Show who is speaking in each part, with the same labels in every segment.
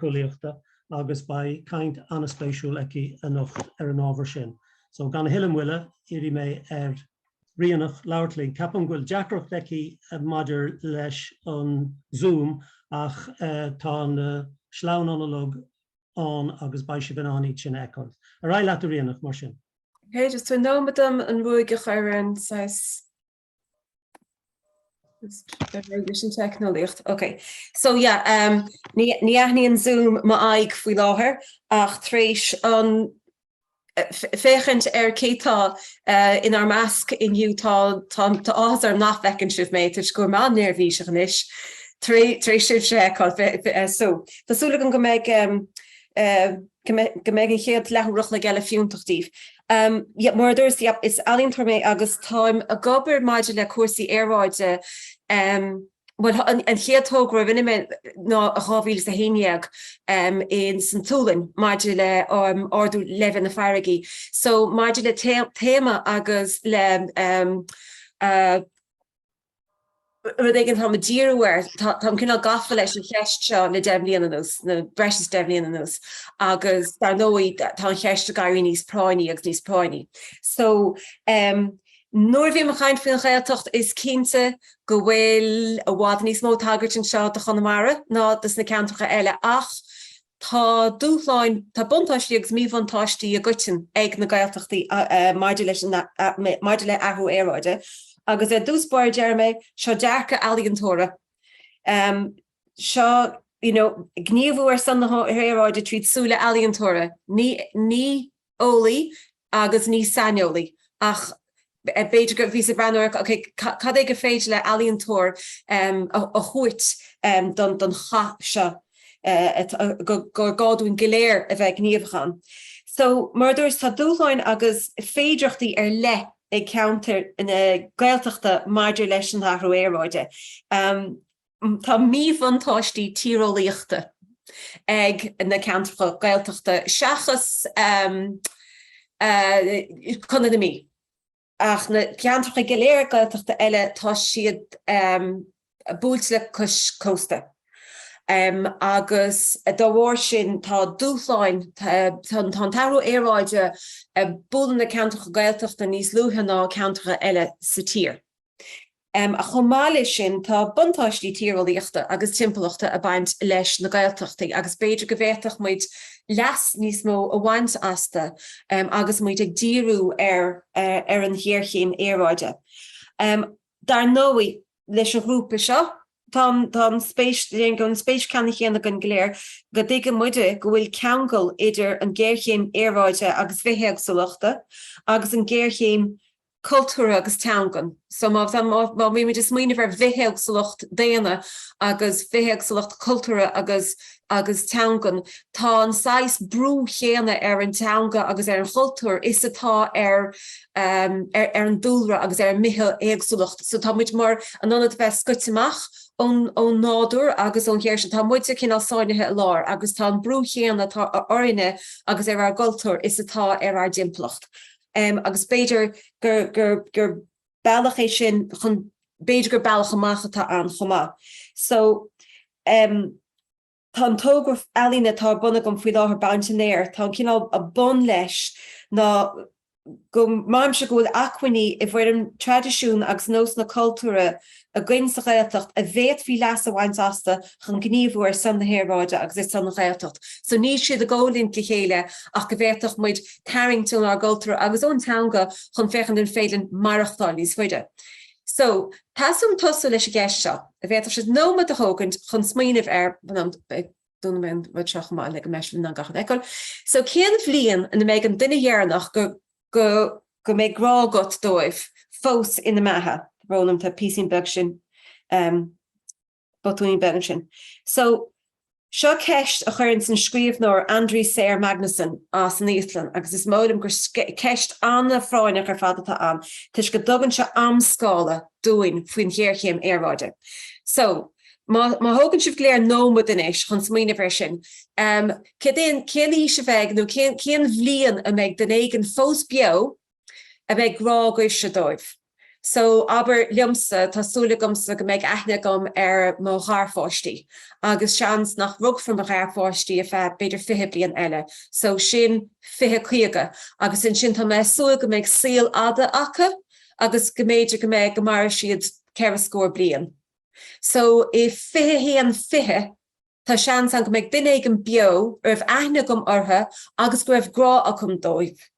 Speaker 1: síceolaíochta agus beidh caint an-spéisiúil aici anocht ar an ábhar sin. So, gan a thuilleadh moille, iarrfaidh mé ar Ríonach labhairt linn. Ceapaim go bhfuil deacracht aici maidir leis an Zoom ach tá na sleamhnáin uilig ann agus beidh sibh in ann iad sin a fheiceáil. Ar aghaidh leat a Ríonach, mar sin. Okay, tabhair nóiméad
Speaker 2: dom an ruaig a chur ar an. saghas teicneolaíocht, okay so yeah, ní aithníonn Zoom m'aghaidh faoi láthair ach tar éis féachaint ar cé tá inár measc inniu tá áthas orm nach bhfeiceann sibh mé toisc go bhfuil mé an-néirbhíseach anois tar éis sibhse a fheiceáil. Tá súil agam go mbeidh go mbeidh an chéad leathuair an chloig eile fiúntach daoibh. Mar a dúras, yep, is ealaíontóir mé agus táim ag obair maidir le cúrsaí aeráide, em, bhuel, an chéad togra a rinne mé ná i 2011, em, insan tSualainn maidir le, em, ardú leibhéal na farraige. So, maidir le téama agus le, em, eh, rud éigin atáim ag díriú air, táim cineál gafa leis an cheist seo le deich mbliana anuas, ná breis is deich mbliana anuas, agus dar ndóigh tá an cheist ag éirí níos práinní agus níos práinní. So, em, nuair a bhím ag caint faoin Ghaeltacht is cinnte go bhfuil i bhfad níos mó tagairt anseo do Chonamara ná dos na ceantracha eile ach, Tá dúshláin, tá buntáistí agus míbhuntáistí i gcoiteann ag na Gaeltachtaí maidir le, maidir le athrú aeráide agus ar dtús báire déarfaidh mé, seo dearcadh ealaíontóra, seo you know gníomhú ar son na haeráide tríd súile ealaíontóra, ní, ní, eolaí agus ní saineolaí ach b'fhéidir go, bhíos ag breathnú ar ok cad é gur féidir le ealaíontóir a thabhairt don don chath seo gur gá dúinn go léir a bheith gníomhach ann. So mar a dúras tá dúshláin agus féidireachtaí ar leith ag ceantair na Gaeltachta maidir leis an athrú aeráide. Tá míbhuntáistí tíreolaíochta ag na ceantracha Gaeltachta seachas Contae na Mí, ach na ceantracha go léir Gaeltachta eile tá siad buailte le cois cósta agus dá bharr sin tá dúshláin, tá an t-athrú aeráide ag bualadh na ceantracha Gaeltachta níos luaithe ná ceantracha eile sa tír. ach chomh maith leis sin tá buntáistí tíreolaíochta agus timpeallachta a baint leis na Gaeltachtaí agus b'fhéidir go bhféadfadh muid leas níos mó a bhaint astu agus muid ag díriú ar an ghéarchéim aeráide. Dar ndóigh, leis an ghrúpa seo tá an spéis, déarfainn go bhfuil an spéis ceanna chéanna againn go léir, go dtuigeann muide go bhfuil ceangal idir an ghéarchéim aeráide agus bithéagsúlachta agus an ghéarchéim cultúrtha agus teangan. So má tá, má, má bhíonn muid ag smaoineamh ar bhithéagsúlacht daonna agus bithéagsúlacht cultúrtha agus, agus teangan, tá an saghas brú chéanna ar an teanga agus ar an gcultúr is atá ar, ar, ar an dúlra agus ar an mbithéagsúlacht. So tá muid mar, in ionad bheith scoite amach ón, ón nádúr agus ón ghéir sin, tá muide cineál sáinnithe i lár agus tá an brú chéanna atá orainne agus ar ár gcultúr is atá ar ár dtimpeallacht. em agus b'fhéidir gur, gur, gur bealach é sin chun, b'fhéidir gur bealach amach atá ann chomh maith. So em tá an togra ealaíne atá ar bun agam faoi láthair, Baint an Aeir, tá an cineál bun leis ná go mbraithimse go bhfuil acmhainní i bhfoirm traidisiún agus nósanna cultúrtha, againn sa Ghaeltacht a bhféadfaí leas a bhaint astu chun gníomhú ar son na haeráide agus ar son an Ghaeltacht. So níl siad i gcomhlint le chéile ach go bhféadfadh muid tarraingt ónár gcultúr agus ón teanga chun féachaint an féidir maireachtáil níos faide. So teastaíonn uaim tosú leis an gceist seo, an bhféadfadh sibh nóiméad a thógaint chun smaoineamh air, em, dúnfaidh mé an rud seo amach maith le go mbeidh sibh in ann gach rud a fheiceáil. So cén bhliain ina mbeidh an duine dheireanach go. go, go mbeidh grá agat dóibh fós ina mbeatha. Tá brón orm tá, píosín beag ansin, botúnín beag ansin. So, seo ceist a chuireanns an scríobhnóir Andri Snær Magnason as an Íoslainn agus is dóigh liom gur ceist ana-phráinneach ar fad atá ann toisc go dtugann sé am-scála dúinn faoin ghéarchéim aeráide. So, Má thógann sibh go léir nóiméad anois chun smaoineamh air sin, cén aois a bheidh nó cén bhliain a mbeidh duine éigin fós beo a mbeidh grá agaibhse dóibh? So, abair, liomsa, tá súil agamsa go mbeidh aithne agam ar mo gharpháistí agus seans nach rugfar mo gharpháistí ar feadh b'fhéidir fiche bliain eile, so sin fiche caoga agus ansin tá mé ag súil go mbeidh saol fhada acu agus go mb'fhéidir go mbeidh go mairfidh siad ceithre scór bliain. so i 21 20 tá seans ann go mbeidh duine éigin beo a raibh aithne agam orthu agus go raibh grá agam dóibh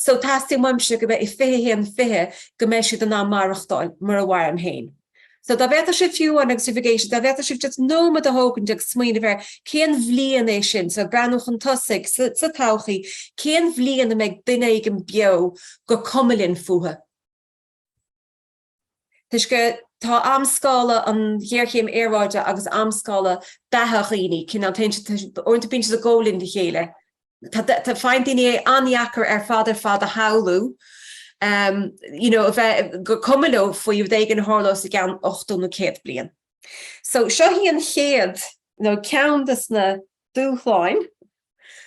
Speaker 2: so teastaíonn uaimse go mbeidh i 21 20 go mbeidh siad in ann maireachtáil mar a mhairim féin. So dá bhféadfadh sibh fiú amháin agus sibh ag éisteacht, dá bhféadfadh sibh just nóiméad a thógaint agus smaoineamh ar cén bhliain é sin, so ag breathnú chun tosaigh, sa todhchaí, cén bhliain a mbeidh duine éigin beo go gcuimhneoinn fúthu? toisc go, tá amscála an ghéarchéim aeráide agus amscála beatha dhaoine, cineál, téann siad, uaireanta bíonn siad i gcoimhlint le chéile. Tá, faigheann daoine é an-deacair ar fad ar fad a shamhlú, you know, a bheith, gur cuma leo faoi rud éigin a tharlós i gceann 80 nó 100 bliain. So, seo í an chéad, nó ceann de na dúshláin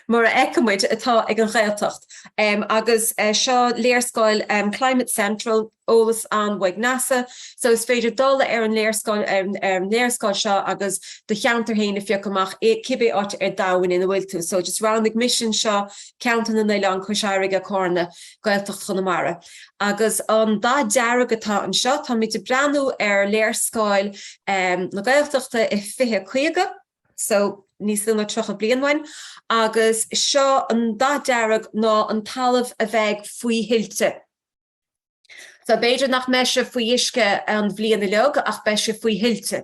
Speaker 2: mar a fheiceann muid, atá ag an Ghaeltacht. Agus seo léarscáil Climate Central, eolas ann ó NASA, so is féidir dul ar an léarscáil seo agus do cheantar féin a phiocadh amach, cibé áit ar domhain ina bhfuil tú. So just roghnaigh mise anseo, Ceantar na nOileán, Cois Fharraige, Cárna, Gaeltacht Chonamara. Agus an dath dearg atá anseo, táimid ag breathnú ar léarscáil na Gaeltachta i 2050. So níos lú ná tríocha bliain uainn, agus seo an dath dearg ná an talamh a bheidh faoi thuilte. So b'fhéidir nach mbeidh sé faoi uisce an bhliain uilig ach beidh sé faoi thuilte,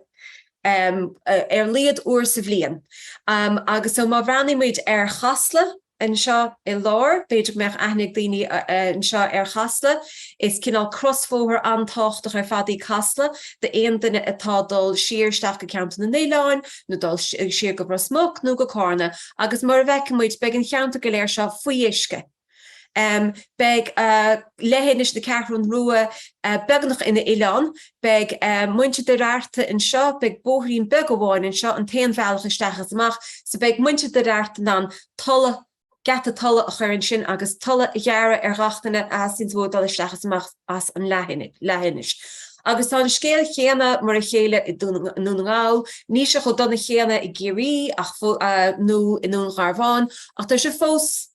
Speaker 2: ar laghad uair sa bhliain. Agus so má bhreathnaímid ar Chasla, anseo i lár. B'fhéidir go mbeadh aithne ag daoine anseo ar Chasla. Is cineál crosbhóthar an-tábhachtach ar fad í Casla d'aon duine atá dul siar isteach go Ceantar na nOileán nó dul siar go Ros Muc nó go Cárna agus mar a bhfeiceann muid beidh an cheantar go léir seo faoi uisce. Beidh leithinis na Ceathrún Rua beagnach ina oileán Beidh muintir Doire Fhearta anseo, beidh bóithrín beag amháin anseo, an t-aon bhealach isteach agus amach, so beidh muintir Doire Fhearta in ann tola, geata tola a chur ansin agus tola a ghearradh ar ghach duine atá ag iarraidh dul isteach is amach as an leathinis. Agus tá an scéal céanna, mar a chéile i Dún na nGall, níl sé chomh dona céanna i gCiarraí ach, nó i nDún Gharbhán, ach tá sé fós,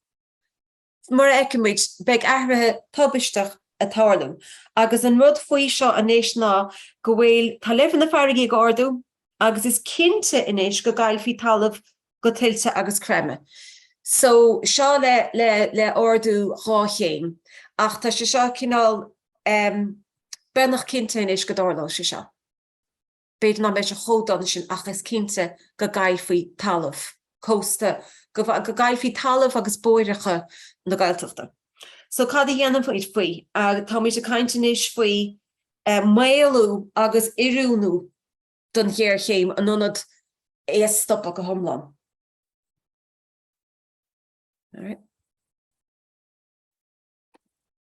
Speaker 2: Mar a fheicimid, beidh athruithe tubaisteach ag tarlú, agus an rud faoi seo anois ná go bhfuil, tá leibhéal na farraige ag ardú agus is cinnte anois go gcaillfidh talamh go tuilte agus creimeadh. So, seo le, le, le ardú dhá chéim, ach tá sé seo cineál, em, beagnach cinnte anois go dtarlóidh sé seo. b'fhéidir nach mbeidh sé chomh dona sin ach is cinnte go gcaillfidh talamh cósta, go gcaillfidh talamh agus bóithreacha na Gaeltachta. So cad a dhéanfaimid faoi? Táimid ag caint anois faoi mhaolú agus oiriúnú don ghéarchéim in ionad é a stopadh go hiomlán.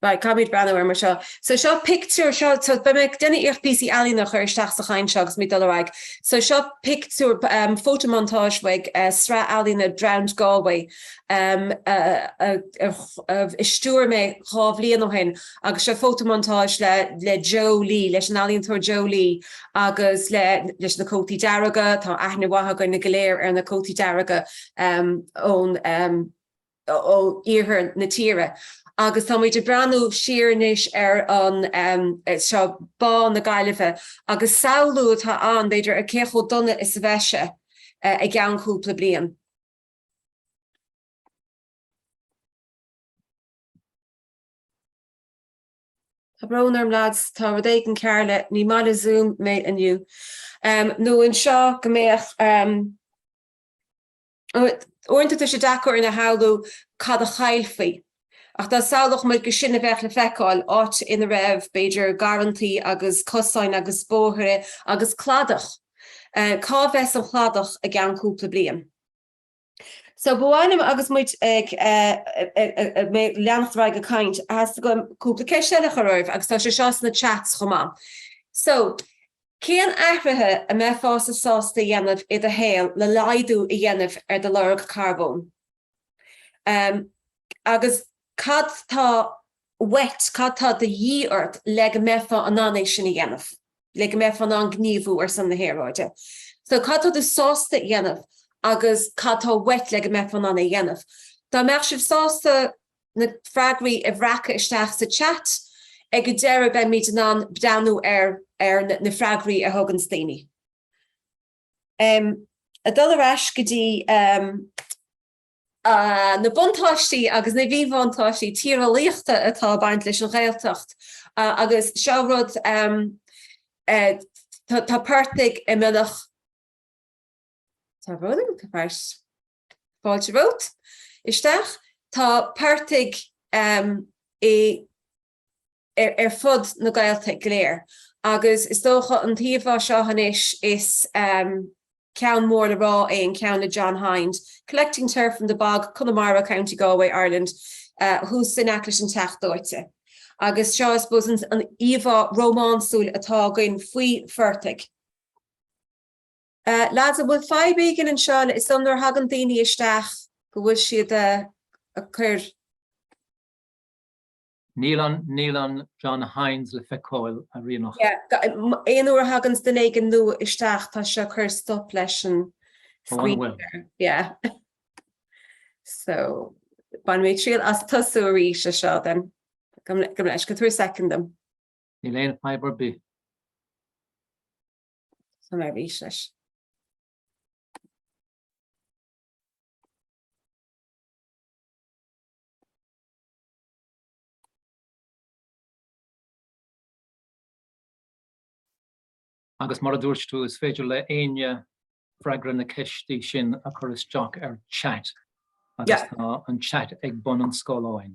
Speaker 2: Right, caithfimid breathnú air mar seo. So seo pictiúr, seo, so beidh mé ag déanamh iarracht píosaí ealaíona a chur isteach sa chaint seo agus muid dul ar aghaidh. So seo pictiúr, photomontage uaidh sraith ealaíona Drowned Galway a stiúir mé dhá bhliain ó shin agus seo photomontage le le Joe Lee, leis an ealaíontóir Joe Lee agus le, leis na cótaí dearga, tá aithne mhaith againn go léir ar na cótaí dearga ón, ó iarthar na tíre agus tá muid ag breathnú siar anois ar an, seo Bá na Gaillimhe agus samhlú atá ann, b'fhéidir, ar cé chomh dona is a bheidh sé i gceann cúpla bliain. Tá brón orm lads, tá rud éigin cearr le ní maith le Zoom mé inniu. Nó anseo go mbeadh. Uaireanta tá sé deacair a shamhlú, cad a chaillfí, ach dá samhlódh muid go sin a bheadh le feiceáil, áit ina raibh, b'fhéidir, garrantaí agus cosáin agus bóithre agus cladach, cá bheas an chladach i gceann cúpla bliain? So, ba mhaith liom, agus muid ag leanacht ar aghaidh ag caint, theastaigh uaim cúpla ceist a chur oraibh, agus tá sé seo sna chats chomh maith. So. Cén athruithe a mbeifeá sásta a dhéanamh i do shaol le laghdú a dhéanamh ar do lorg carbóin? Agus cad tá uait, cad tá de dhíth ort le go mbeifeá in ann é sin a dhéanamh, le go mbeifeá in ann gníomhú ar son na haeráide? So, cad tá tú sásta a dhéanamh agus cad tá uait le go mbeifeá in ann é a dhéanamh? Dá mbeadh sibh sásta. na freagraí a bhreacadh isteach sa chat. Ag an deireadh beimid in ann breathnú ar na freagraí a thuganns daoine. Ag dul ar ais go dtí na buntáistí agus na míbhuntáistí tíreolaíochta atá ag baint leis an Ghaeltacht agus seo rud tá portaigh i mbeagnach gach cearn den tír. Fáilte romhat isteach. Tá portaigh ar fud na Gaeltachta go léir agus is dócha an íomhá seo anois is ceann mór le rá é, an ceann le John Hinde, Collecting Turf from the Bog, Connemara, County Galway, Ireland, thuas in aice leis an Teach Dóite. Agus seo I suppose an íomhá rómánsúil atá againn faoi phortaigh. Lads, an bhfuil fadhb éigin anseo? Is dóigh nuair a thagann daoine isteach go bhfuil siad ag
Speaker 3: cur. Níl an John Hinde le feiceáil, a Ríonach. Yeah, aon uair
Speaker 2: a thaganns duine éigin nua isteach tá sé ag cur stop leis an screen share. Oh, an bhfuil? Yeah. So, bainfidh mé triail as tosú arís leis seo then. Gabh mo leithscéal, tabhair second dom. Níl aon fadhb
Speaker 3: ar bith.
Speaker 2: Tosóidh mé arís
Speaker 3: leis. Agus mar a dúirt tú, is féidir le éinne freagra na ceiste sin a chur isteach ar chat agus tá an chat ag bun an scáileáin.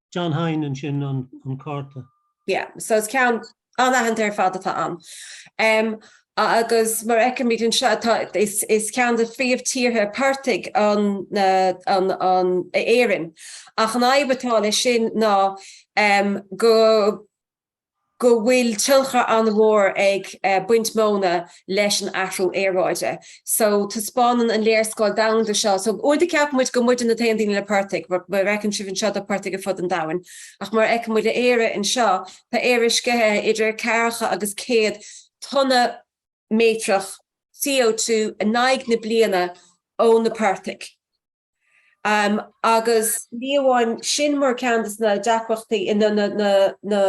Speaker 1: John Hinde ansin an cárta. Yeah, so
Speaker 2: is ceann an-aitheanta ar fad atá ann. Agus mar a fheicimid anseo, is ceann de phríomhtíortha portaigh Éirinn, ach an fhadhb atá leis sin ná go. go bhfuil tionchar an-mhór ag baint móna leis an athrú aeráide. So, taispeánann an léarscáil domhanda seo, so, uair do cheap muid go muidne na t-aon daoine le portaigh, mar a fheiceann sibh anseo tá portaigh ar fud an domhain, ach mar a fheiceann muid Éire anseo, tá Éire ag sceitheadh idir ceathracha agus céad tonna méatrach CO2 in aghaidh na bliana ó na portaigh. Agus ní amháin sin mar ceann dos na deacrachtaí nó na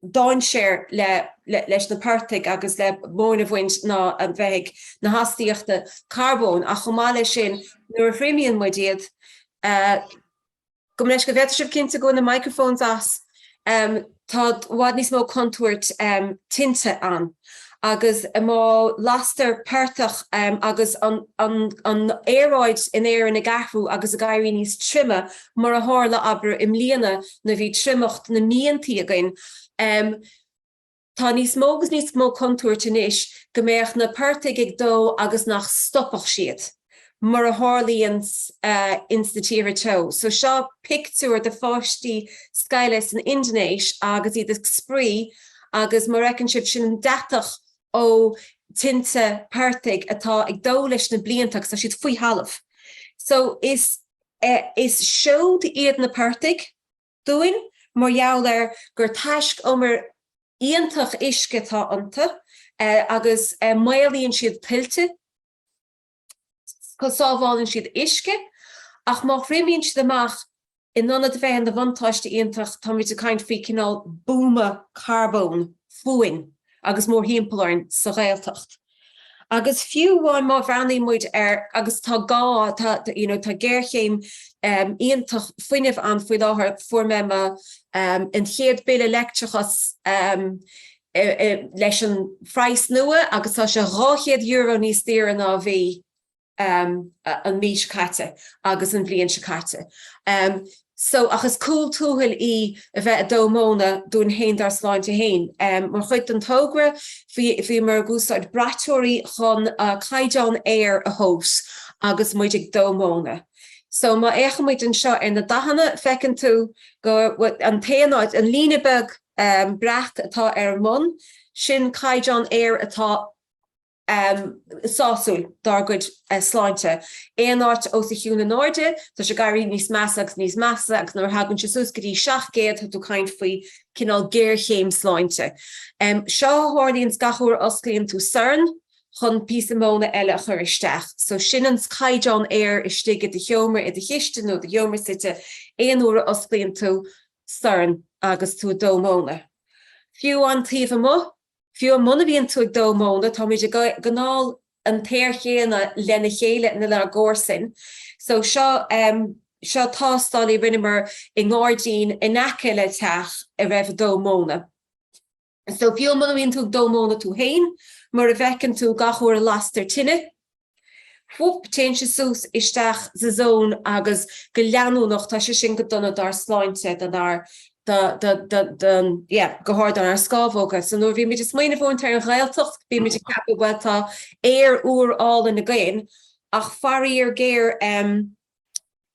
Speaker 2: dainséir leis na portaigh agus le móin a bhaint ná a bheith ag na hastaíochta carbóin ach chomh maith leis sin nuair a thriomaíonn muid iad Gabh mo leithscéal, an bhféadfadh sibh cinntiú go bhfuil na microphones as, tá i bhfad níos mó contúirt tinte ann agus má lastar portach agus an aeráid in Éirinn ag athrú agus ag éirí níos tirime mar a tharla abair i mbliana nuair a bhí triomacht na míontaí againn, Tá níos mó agus níos mó contúirt anois go mbeadh na portaigh ag dó agus nach stopfadh siad, mar a tharlaíonn ins na tíortha teo. So seo pictiúr de pháistí scoile san Indinéis agus iad ag spraoi agus mar a fheiceann sibh, sin an deatach ó tinte portaigh atá ag dó leis na blianta agus tá siad faoi thalamh. So is seoid iad na portaigh. dúinn mar gheall ar gur taiscumar iontach uisce atá iontu agus maolaíonn siad tuilte, sábhálann siad uisce ach má thriomaíonn siad amach, in ionad a bheith ina bhuntáiste iontach, táimid ag caint faoi chineál buama carbóin fúinn agus mórthimpeall orainn sa Ghaeltacht. Agus fiú amháin má bhreathnaíonn muid ar, agus tá gá, tá, you know, tá géarchéim iontach fuinnimh ann faoi láthair, fuair mé mo, an chéad bille leictreachas leis an phraghas nua agus tá sé dhá chéad euro níos daoire ná a bhí. an mhí seo caite agus an bhliain seo caite so ach is cúl tuathail í a bheith a' dó móna dúinn fhéin dár sláinte fhéin. Mar chuid den togra bhíomar ag úsáid braiteoirí chun caighdeán aeir a thomhas agus muid ag dó móna. So má fhéachaimid anseo ar na dathanna feiceann tú go, an t-aon áit, an líne beag breac atá ar an mbun, sin caighdeán aeir atá, sásúil dár gcuid sláinte. Aon áit os a chionn in airde, tá sé ag éirí níos measa agus níos measa agus nuair a thagann sé suas go dtí 700, tá tú ag caint faoi cineál géarchéim sláinte. Seo a tharlaíonns gach uair a osclaíonn tú sorn chun píosa móna eile a chur isteach. So sin an caighdeán aeir istigh i do sheomra, i do chistin nó i do sheomra suite aon uair a osclaíonn tú sorn agus tú ag dó móna. Fiú an taobh amuigh, Fiú muna mbíonn tú ag dó móna, táimid ag anáil an t-aer chéanna lena chéile nó lenár gcomharsain. So seo, seo tástáil a rinneamar i ngairdín in aice le teach a raibh ag dó móna. So fiú muna mbíonn tú ag dó móna tú féin, mar a bhfeiceann tú gach uair a lastar tine, Hup, téann sé suas isteach sa zón agus go leanúnach, tá sé sin go dona dár sláinte, don ár, do, do, do, don, yeah, go háirid don ár scamhóga. So nuair a bhí muid ag smaoineamh ar an Ghaeltacht, bhí muid ag ceapadh, bhuel, tá aer úr álainn againn ach faraor géar, em,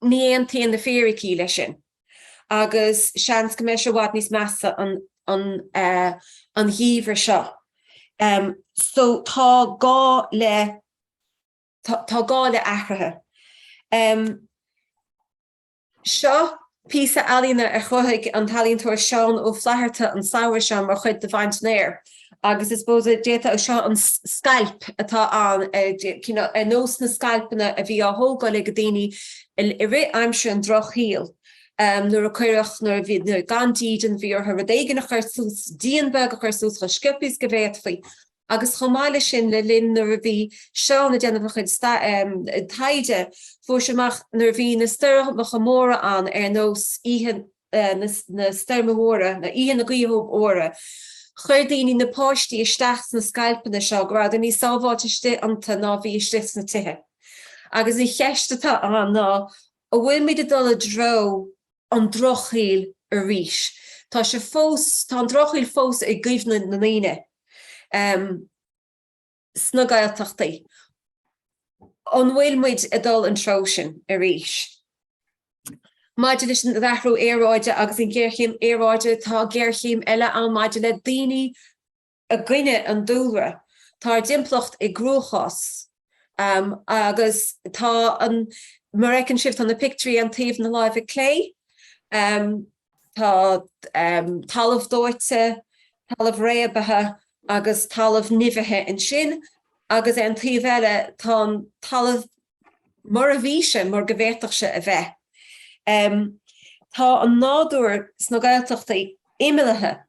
Speaker 2: Ní aontaíonn na fíricí leis sin agus seans go mbeidh sé i bhfad níos measa an gheimhreadh seo. So tá gá le, tá gá le athruithe. Seo Píosa ealaíne a chruthaigh an t-ealaíontóir Seán Ó Flaithearta an samhradh seo mar chuid de Bhaint an Aeir agus I suppose d'fhéadfá, seo an scailp atá ann ar nós na scailpeanna a bhí á thógáil ag daoine i rith aimsir an drochshaoil nuair a cuireadh, nuair a bhí gan dídean, bhí orthu rud éigin a chur suas, díon beag a chur suas chomh sciobtha is go bhféadfaí. agus chomh maith leis sin le linn nuair a bhí Seán ag déanamh a chuid taighde fuair sé amach nuair a bhí na stoirmeacha móra ann ar nós oíche na stoirme mhóire nó oíche na gaoithe mhóire chuir daoine, na páistí, isteach sna scailpeanna seo, go rabhadar níos sábháilte istigh iontu ná a bhí istigh sna tithe. Agus an cheist atá ann ná an bhfuil muid ag dul i dtreo. an Drochshaoil arís. Tá sé fós, tá an Drochshaoil fós i gcuimhne na ndaoine sna Gaeltachtaí. An bhfuil muid ag dul an treo sin arís? Maidir leis an athrú aeráide agus an ghéarchéim aeráide, tá géarchéim eile ann maidir le daoine, I gcoinne an dúlra, tá ár dtimpeallacht i gcruachás agus tá an, mar a fheiceann sibh, tá na pictiúirí ar an taobh na láimhe clé, tá talamh dóite, talamh réabtha agus talamh nimhithe ansin agus ar an taobh eile tá an talamh mar a bhí sé, mar go bhféadfadh sé a bheith. Tá an nádúr sna Gaeltachtaí imeallaithe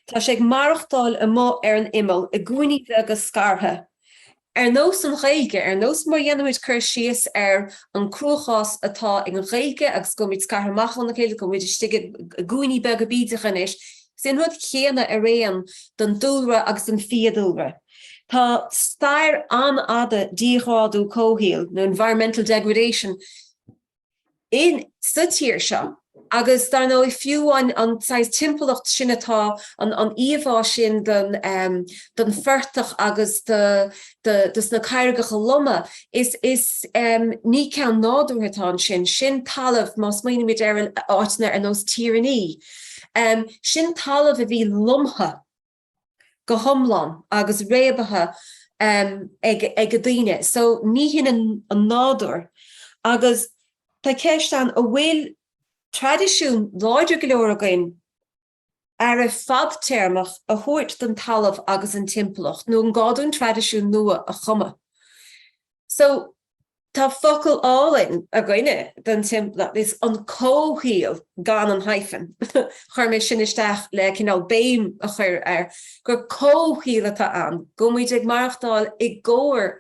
Speaker 2: Tá sé ag maireachtáil amuigh ar an imeall, i gcúinní bheaga scartha. Ar nós an Ghaeilge, ar nós mar a dhéanaimid cur síos ar an gcruachás atá ag an Ghaeilge agus go bhfuilmid scartha amach óna chéile, go bhfuilmid istigh i gcúinní beaga bídeacha anois, sin an rud céanna araon don dúlra agus don fiadhúlra. Tá stair an-fhada díghrádú comhshaoil, nó environmental degradation, in, sa tír seo agus dar ndóigh fiú an saghas timpeallacht sin atá, an íomhá sin den, den phortach agus de sna carraigeacha loma, is, is, ní ceann nádúrtha atá ansin, sin talamh, má smaoinímid ar áiteanna ar nós Tír an Fhia, sin talamh a bhí lomtha. go hiomlán agus réabtha ag daoine so ní hin an nádúr agus tá ceist ann an bhfuil traidisiún láidir go leor againn aire fadtéarmach a thabhairt don talamh agus an timpeallacht nó an gá dúinn traidisiún nua a chumadh so Tá focal álainn againne don timpeallacht, is an comhshaol, gan an hyphen. Chuir mé sin isteach le cineál béim a chur air gur comhshaol atá ann, go bhfuil muid ag maireachtáil i gcomhar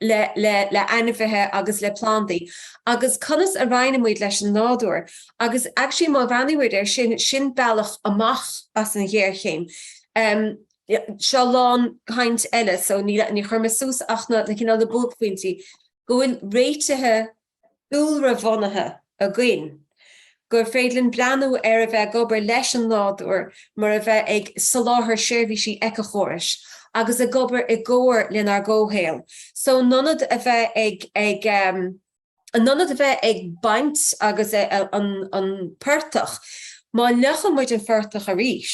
Speaker 2: le le ainmhithe agus le plandaí agus conas a roinneann muid leis an nádúr agus actually má bhreathnaíonn muid ar sin, sin bealach amach as an ghéarchéim. Bhí seo lán caint eile, so ní chuir mé suas ach na cineál le buaicphointí, go bhfuil réitithe dúlra-bhunaithe againn, gur féidir linn breathnú ar a bheith ag obair leis an nádúr maidir le bheith ag soláthar seirbhísí eiceachórais agus ag obair i gcomhar lenár gcomhshaol. So in ionad a bheith ag. in ionad a bheith ag baint agus an portach, má fhliuchann muid an portach arís,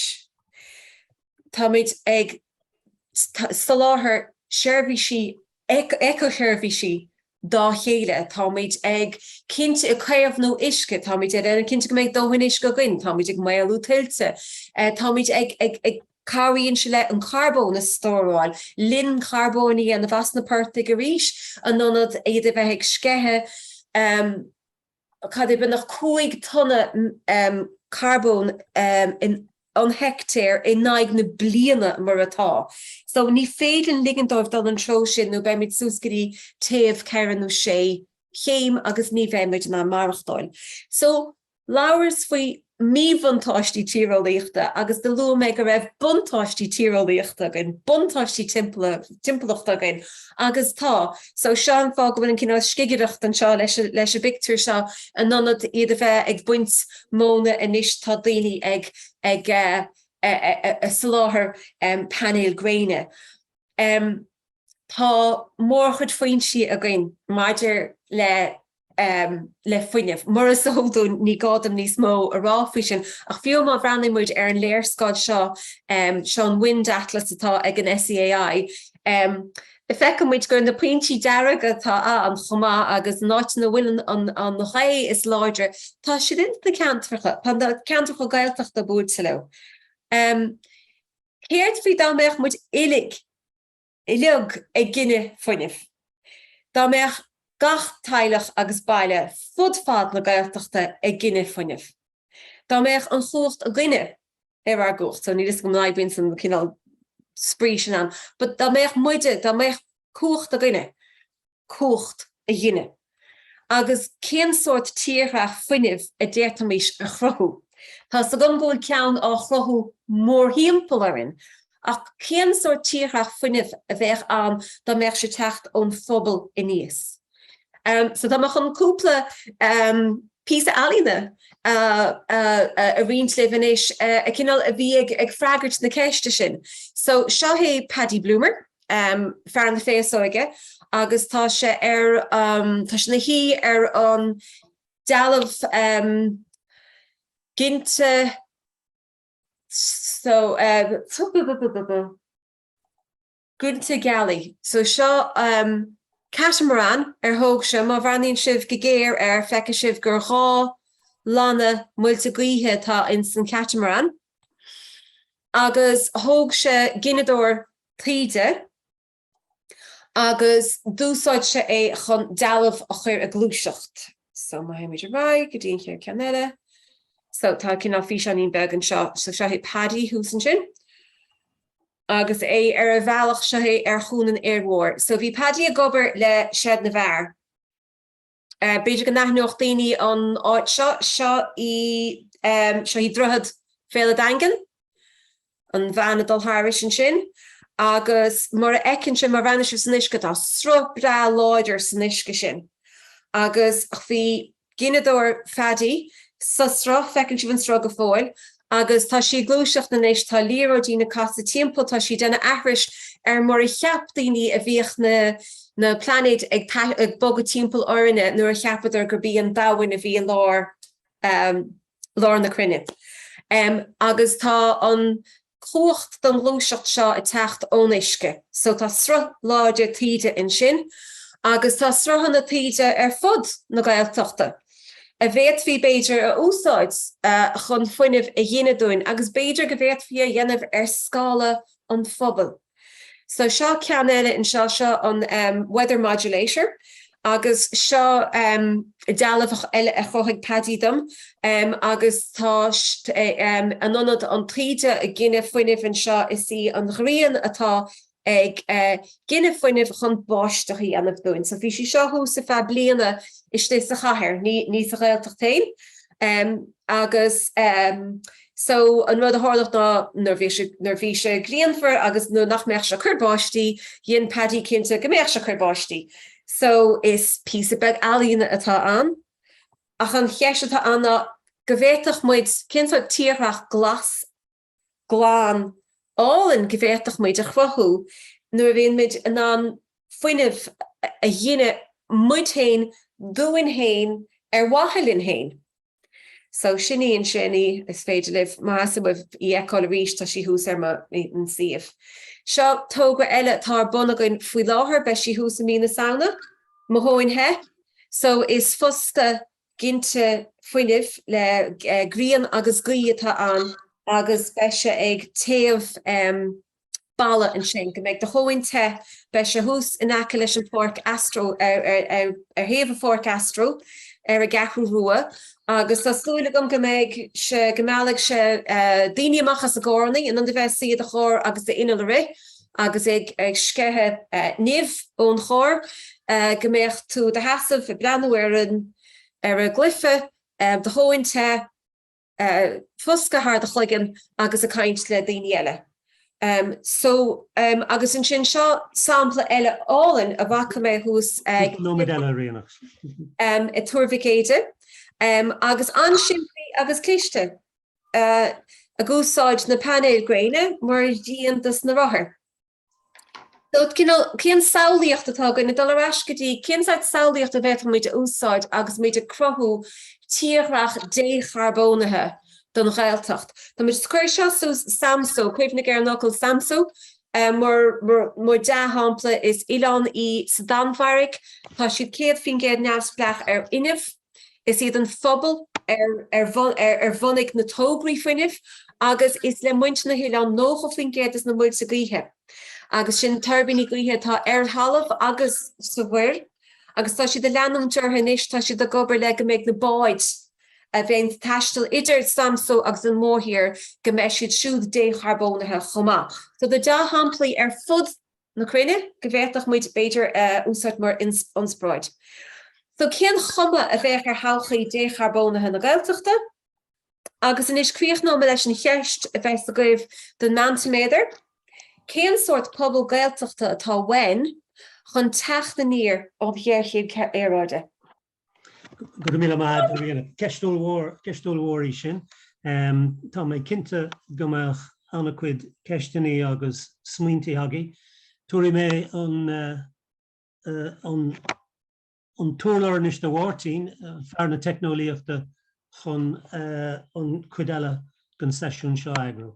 Speaker 2: táimid ag soláthar seirbhísí eiceasheirbhísí dá chéile, táimid ag cinnte ag caomhnú uisce, táimid ag déanamh cinnte go mbeidh dóthain uisce againn, táimid ag maolú tuilte, táimid ag Cabhraíonn sé leis an carbón a stóráil, linn carbóin a dhéanamh as na portaigh arís, in ionad iad a bheith ag sceitheadh, cad é, beagnach 5 tonna carbóin an heictéar in aghaidh na bliana mar atá. So ní féidir linn ligint dóibh dul an treo sin nó beimid suas go dtí téamh 4 nó 6 chéim agus ní bheimid in ann maireachtáil. So. Labhras faoi mhíbhuntáistí tíreolaíochta agus do luaigh mé go raibh buntáistí tíreolaíochta againn, buntáistí timpeallachta againn agus tá. So seo an fáth go bhfuil an cineál scigireacht anseo leis an bpictiúr seo, in ionad iad a bheith ag baint móna anois tá daoine ag ag soláthar painéil gréine. Tá mórchuid foinsí againn maidir le le fuinneamh. Mar is eol dúinn, ní gá dom níos mó a rá faoi sin, ach fiú má bhreathnaíonn muid ar an léarscáil seo, seo an Wind Atlas atá ag an SEAI, feiceann muid gur na pointí dearga atá ann chomh maith agus na háiteanna a bhfuil an ghaoth is láidre, tá siad ins na ceantracha, tá na ceantracha Gaeltachta buailte leo. Céard faoi dá mbeadh muid uilig uilig ag gineadh fuinnimh. Dá mbeadh gach teaghlach agus baile fud fad na Gaeltachta ag gineadh fuinnimh. Dá mbeadh an chumhacht againne, ar ár gcumhacht, so níl 'fhios agam an oibríonn an cineál spraoi sin ann, but dá mbeadh muide, dá mbeadh cumhacht againne, cumhacht a ghineadh? Agus cén sórt tírdhreach fuinnimh a d'fhéadfaimis a chruthú? Tá's agam go bhfuil ceann á chruthú mórthimpeall orainn, ach cén sórt tírdhreach fuinnimh a bheidh ann dá mbeadh sé ag teacht ón phobal aníos? So tá mé chun cúpla píosa ealaíne a roinnt libh anois, cineál a bhí ag freagairt na ceiste sin. So seo é Paddy Bloomer. fear na féasóige agus tá sé ar an, tá sé na shuí ar an dealbh ginte so ginte gealaí so seo catamaran ar thóg sé, má bhreathnaíonn sibh go géar air feicfidh sibh gur dhá lanna muilte gaoithe atá ins an chatamaran agus thóg sé gineadóir taoide agus d'úsáid sé é chun dealbh a chuir ag gluaiseacht. So má théimid ar aghaidh go dtí an chéad ceann eile, so tá cineál físeáinín beag anseo, so seo é Paddy thuas ansin agus é ar a bhealach, seo é ar Chuan an Fhir Mhóir. So bhí Paddy ag obair le Seid na bhFear. B'fhéidir go n-aithneodh daoine an áit seo, seo í, seo í Droichead Bhéal a' Daingin, an bhean ag dul thairis ansin agus mar a fheiceann sibh, má bhreathnaíonn sibh san uisce, tá sruth breá láidir san uisce sin agus bhí gineadóir Phaddy sa sruth, feiceann sibh an sruth go fóill, agus tá sí ag gluaiseacht anois, tá na liathróidí ag casadh timpeall, tá sí ag déanamh aithris ar mar a cheap daoine a bhíodh na na plainéid ag ag bogadh timpeall orainne nuair a cheapadar gurb í an domhan a bhí i lár lár na cruinne agus tá an chumhacht don ghluaiseacht seo ag teacht ón uisce so tá sruth láidir taoide ansin agus tá sruthanna taoide ar fud na Gaeltachta. a bhféadfaí, b'fhéidir, a úsáid chun fuinneamh a ghineadh dúinn agus b'fhéidir go bhféadfaí a dhéanamh ar scála an phobail. So seo ceann eile anseo, seo an weather modulator agus seo dealbh eile a chruthaigh Paddy dom agus tá in ionad an taoide ag gineadh fuinnimh anseo, is í an ghrian atá ag gineadh fuinnimh chun báisteach a dhéanamh dúinn. So bhí sí seo thuas ar feadh bliana istigh sa chathair, ní, ní sa Ghaeltacht féin. Agus so an rud a tharlódh ná nuair bhí sé, nuair bhí sé grianmhar agus nuair nach mbeadh sé ag cuir báistí, dhéan Paddy cinnte go mbeadh sé ag cuir báistí. So is píosa beag ealaíne atá ann. Ach an cheist atá ann ná go bhféadfadh muid, cén sórt tírdhreach glas, glan álainn go bhféadfadh muid a chruthú nuair a bhíonn muid in ann fuinneamh a ghineadh muid féin dúinn féin ar mhaithe linn féin. So sin í an sin í is féidir libh, má theastaíonn uaibh, í fheiceáil arís, tá sí thuas ar mo shuíomh. Seo togra eile atá ar bun againn faoi láthair, beidh sí thuas i mí na Samhna, mo thóin the, so is foscadh ginte fuinnimh le grian agus gaoith atá ann agus beidh sé ag téamh balla ansin go mbeidh do thóin te, beidh sé thuas in aice leis an pháirc astro, ar thaobh an pháirc astro ar an gCeathrú Rua agus tá súil agam go mbeidh sé, go meallfaidh sé daoine amach as a gcarranna, in ionad a bheith suí i do charr agus d'inneall ag rith. agus é ag sceitheadh nimh ón charr, go mbeadh tú i do sheasamh ag breathnú ar an gcluiche, do thóin te, foscadh thar do chloigeann agus ag caint le daoine eile. So, agus ansin, seo sampla eile álainn a bhfaca mé thuas ag Túr Mhic Éide, agus an-simplí agus cliste. ag úsáid na painéil gréine mar dhíon dos na rothair. So, cineál, cén samhlaíocht atá againn, ag dul ar ais go dtí cén sórt samhlaíocht a bhféadfaimid a úsáid agus muid ag cruthú tírdhreach décharbónaithe don Ghaeltacht. Tá muid, cuir seo suas, Samsó, cuimhnigh ar an fhocal Samsó, mar, mar, mar dea-shampla, is oileán í sa Danmhairg, tá siad 100% neamhspleách ar fhuinneamh, Is iad an phobal a bhunaigh na tograí fuinnimh agus is le muintir na hoileáin 90% dos na muilte gaoithe agus sin tuirbíní gaoithe atá ar thalamh agus sa mhuir agus tá siad ag leanúint orthu anois, tá siad ag obair le go mbeidh na báid a bheidh ag taisteal idir Samso agus an mórthír go mbeidh siad siúd décharbónaithe chomh maith. So tá dea-shamplaí ar fud na cruinne go bhféadfadh muid, b'fhéidir, a úsáid mar ionspráid. So cén chuma a bheidh ar thodhchaí décharbónaithe na Gaeltachta? Agus anois críochnóidh mé leis an cheist a bheas agaibh don Mentimeter, cén sórt pobal Gaeltachta atá uainn chun teacht aniar ón ghéarchéim aeráide?
Speaker 1: Go raibh míle maith agat a Ríonach. Ceist an-mhór, ceist an-mhór í sin. Tá mé cinnte go mbeidh an-chuid ceisteannaí agus smaointí agaibh. Tabharfaidh mé an, an, an t-urlár anois do Mháirtín, fear na teicneolaíochta chun an chuid eile den seisiún seo a eagrú.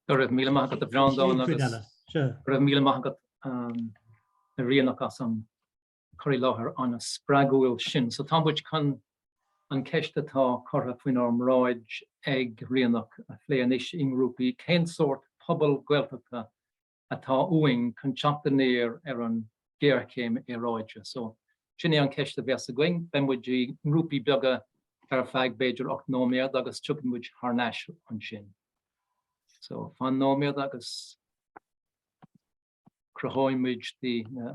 Speaker 1: Go raibh
Speaker 3: míle maith agat a Bhreandáin agus go raibh míle maith agat a Ríonach as an, cur i láthair an-spreagúil sin. So tá muid chun an cheist atá curtha faoinár mbráid ag Ríonach a phlé anois i ngrúpaí, cén sórt pobal Gaeltachta atá uainn chun teacht aniar ar an ghéarchéim aeráide? So sin é an cheist a bheas againn. Beidh muid i ngrúpaí beaga ar feadh b'fhéidir ocht nóiméad agus tiocfaidh muid thar n-ais ansin. So fan nóiméad agus cruthóidh muid na.